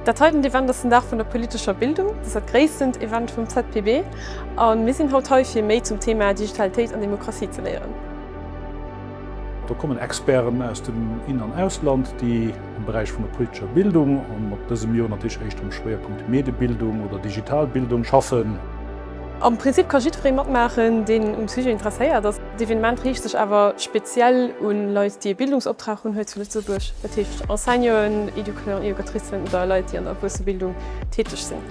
Dat heiten Event ass den Dag vun der politescher Bildung. Dass dat gréisstent Event vum ZPB a mir sinn haut hei fir méi zum Thema Digitalitéit an Demokratie ze léieren. Do kommen Experten aus dem In an Ausland, déi am Beräich vun der politescher Bildung an ab dësem Joer natierlech éischter am Schwéierpunkt Mediebildung oder Digitalbildung schaffen. Am Prinzip ka jiddweree matmaachen, deen um Sujet interesséiert ass. D'Evenement riicht sech awer speziell un Leit, déi ee Bildungsoptrag hunn, hei zu Lëtzebuerg, dat heescht Enseignanten, Educateurs et Educatricen oder Leit, déi an der Erwuessebildung täteg sinn.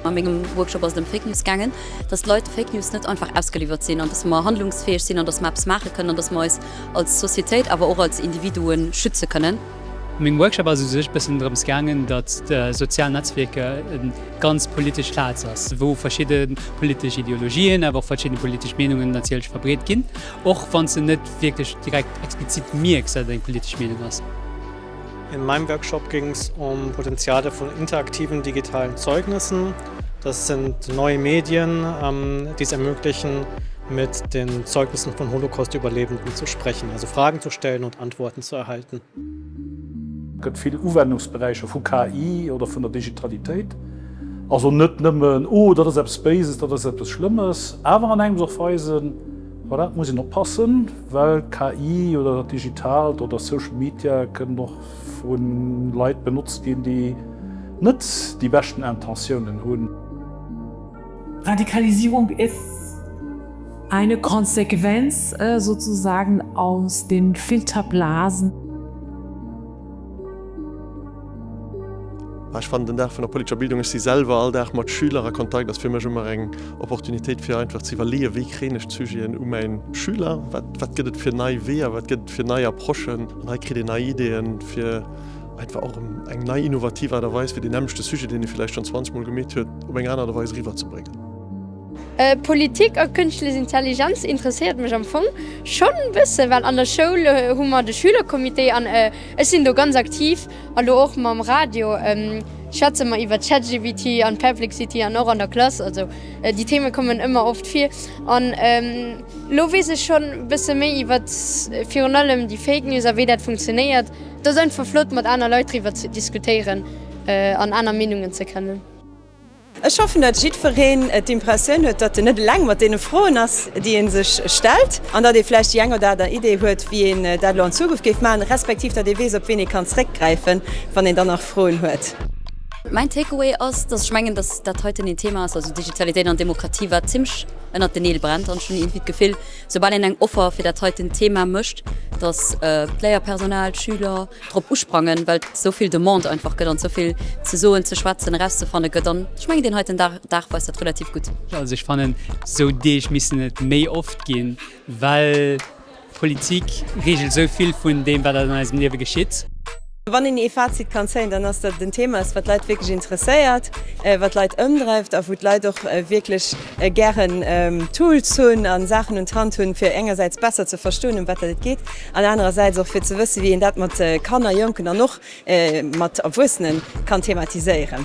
A mengem Workshop ass et ëm Fake News gaangen, dass d'Leit de Fake News net einfach ausgeliwwert sinn, an dass mer handlungsfäeg sinn, an dass mer eppes maache kënnen, an dass mer eis als Societéit, awer och als Individuen schütze kënnen. Meng Workshop ass u sech bëssen drëms gaangen, datt sozial Netzwierker e ganz politesch Plaz ass, wou verschidde politesch Ideologien, awer och verschidde politesch Meenungen natierlech verbreet ginn, och wann s de net wierklech direkt explizit mierks, datt et eng politesch Meenung ass. In meinem Workshop ging es um Potenziale von interaktiven digitalen Zeugnissen. Das sind neue Medien, die es ermöglichen, mit den Zeugnissen von Holocaust-Überlebenden zu sprechen, also Fragen zu stellen und Antworten zu bekommen. ze erhalten. Gëtt vill Uwennungsberäicher vu KI oder vun der Digitalitéit. Also net nëmmen, oh, dat ass eppes Béises, dat ass eppes Schlëmmes, awer an engems och weisen, voilà, et muss een oppassen, well KI oder dat Digitaalt oder Social Media kënnen och vu Leit benotzt ginn, déi net déi beschten Intentiounen hunn. Radikalisierung ist eine Konsequenz sozusagen aus den Filterblasen. Ech fannen den Dag vun der politescher Bildung, ech si selwer all Dag mat Schüler a Kontakt, ass fir mech ëmmer eng Opportunitéit fir einfach ze iwwerleeën, wéi kréien ech d'Sujeten u mäi Schüler, wat gëtt et fir nei Weeër, wat gëtt et fir nei Approchen an hei kritt een nei Ideeën fir Et war och eng nei innovativ Aart a Weis fir deen nämlechte Sujet, deen ee villäicht schonn 20 mol gemeet huet, op eng aner Aart a Weis eriwwerzebréngen. Politik a Kënschtlech Intelligenz interesséiert mech am Fong schonn e bësse well an der Schoul hu mer de Schülercomité an ech sinn do ganz aktiv a lo och mam Radio schwätze mer iwwer ChatGPT an Perplexity an och an der Klass. Also déi Theme kommen ëmmer oft vir an lo weess ech schonn e bësse méi iwwer virun allem déi Fake News a wéi dat funktionéiert. Et ass einfach flott mat aner Leit driwwer ze diskutéieren an aner Meenungen ze kennen. Ech hoffen datt jiddwereen d'Impressioun huet datt en net eleng mat deene Froen ass déi een sech stellt an datt ee vläicht déi eng oder aner Idee huet wéi een dat elo an Zukunft géif maachen, respektiv datt ee weess op ween ee kann zréckgräifen wann een dann nach Froen huet. Mäin Takeaway ass, datt ech mengen datt dat heiten een Thema ass, also Digitalitéit an Demokratie, wat zimlech ënnert den Neel brennt an ech hunn iergendwéi d'Gefill, Soubal een eng Offer fir dat heiten Thema mécht, dass d'Léierpersonal, d'Schüler drop usprangen, well et esou vill Demande einfach gëtt an et esou vill ze soen, ze schwätzen, erauszefanne gëtt an ech mengen deen heiten Dag weist dat relativ gutt. Also ech fannen, esou Deeg missten et méi oft ginn, well d'Politik reegelt esou vill vun deem, wat an eisem Liewe geschitt. Wann een ee Fazit kann zéien, dann ass dat den Thema ass, wat d'Leit wierklech interesséiert, wat d'Leit ëmdreift a wou d'Leit och wierklech gären Tools hunn a Saachen un d'Hand hunn, fir engersäits besser ze verstoen, ëm wat dat et geet, an anerersäits och fir ze wëssen, wéi een dat mat Kanner, Jonken an och mat Erwuessenen kann thematiséieren.